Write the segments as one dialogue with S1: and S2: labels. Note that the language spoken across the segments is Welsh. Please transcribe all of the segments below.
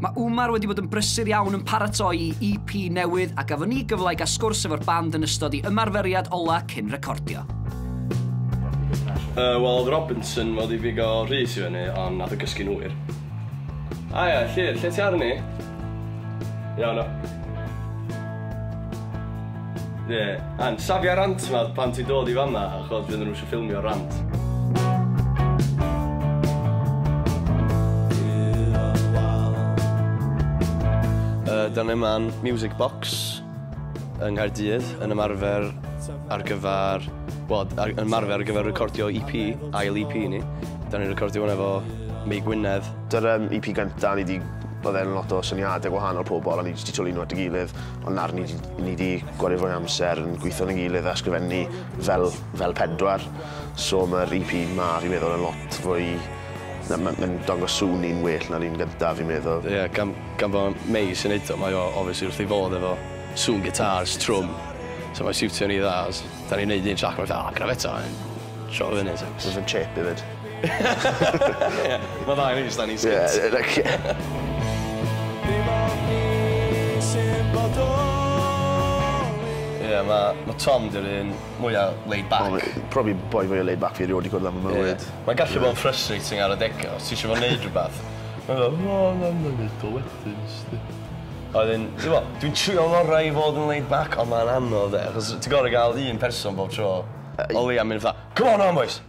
S1: Mae Umar wedi bod yn brysur iawn yn paratoi i EP newydd a gafon ni gyfle i gael sgwrs efo'r band yn ystod i ymarferiad ola cyn recordio.
S2: Uh, Wel, oedd Robinson fod i figo Rhys i fyny, ond nath o gysgu'n hwyr. A ia, Llyr, lle ti arni? Iawn o. Ie, yeah. an, safia rant yma pan ti'n dod i fanna, achos bydd nhw'n ffilmio rant. Da ni yma'n Music Box yng Nghaerdydd yn ymarfer ar gyfer, well, yn ymarfer ar gyfer recordio EP, ail EP ni. Da ni'n recordio hwn efo Mei Gwynedd. Dy'r um, EP gyntaf,
S3: ni wedi oedd e'n lot o syniadau gwahanol pobl, a ni wedi twlu nhw at y gilydd, ond nawr ni wedi gwario fwy amser yn gweithio'n y gilydd a sgrifennu Fel, fel pedwar, so mae'r EP 'ma fi'n meddwl yn lot fwy... na ma' ma'n dangos sŵn ni'n well na'r un gynta fi'n meddwl. Ie gan gan bo'
S2: Mei sy'n neud o mae o obviously wrth ei fodd efo sŵn gitars, trwm, so mae'n siwtio ni dda os 'dan ni'n neud un trac ma' fatha o gwna fe 'to a 'yn troi o fyny 'ta. Jyst yn chirpy 'fyd. Ie, ma' dda i ni jyst anni sgit. Ie, like ie. Dim ond ni sy'n bodoli. Ie, ma' ma' Tom 'di'r un mwya laid back. O ie, probably boi mwya laid
S3: back fi erioed 'di gwrdd â fy mywyd. Ie. Mae'n gallu bod yn
S2: frustrating ar adega os ti isio fo neud rwbath. Mae'n fel o na na'i neud o wedyn sdi. A wedyn t'mo' dwi'n trio'n ngora i fod yn laid back on' ma'n anodd 'de achos ti gor'o' ga'l un person bob tro. O leia myn' fatha come on 'wan bois!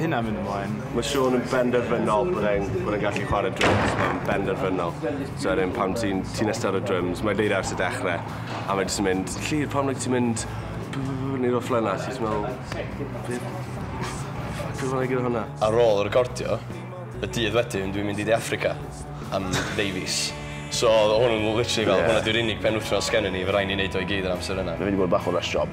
S4: Hynna mynd ymlaen. Mae Siôn yn
S5: benderfynol bod e'n bod e'n gallu chwarae drums, mae'n benderfynol. So wedyn pan ti'n ti'n iste ar y drums, mae Lleida ers y dechre, a mae jyst yn mynd, Llŷr, pam neu ti'n mynd neud o'r fflyna, ti jyst yn meddwl, be ffyc odd o'n neud gyda hwnna? Ar ôl y recordio,
S2: y dydd wedyn dwi'n mynd i De Affrica am ddeu fis. So odd hwn yn literally fel hwnna di'r unig penwthnos sgennon ni, fe rai' ni neud o i gyd yr amser yna. Mae wedi bod bach o rush job.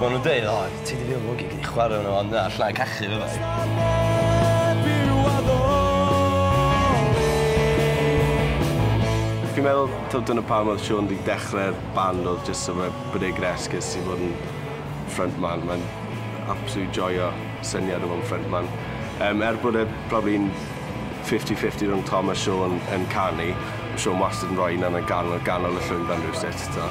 S2: Mae nhw'n dweud, o, ti wedi byw mwnci, gei di chwarae arno fo, ond na, allai cachu, fyddai.
S5: Fi'n meddwl taw dyna pam oedd Siôn 'di dechrau'r band oedd jyst so fe- bod e gyda esgus i fod yn front man. Mae'n absolutely joio syniad o fod yn front man. Yym er bod e probably yn fifty fifty rhwng Tom a Siôn yn canu, ma' Siôn wastad yn rhoi un arno gan- ganol y llwyfan rywsut t'o'.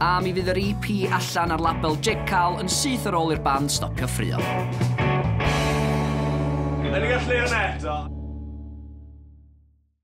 S1: A mi fydd yr EP allan ar label Jake Carl yn syth ar ôl i'r band stopio ffruo. Yn y
S5: gallu yna eto.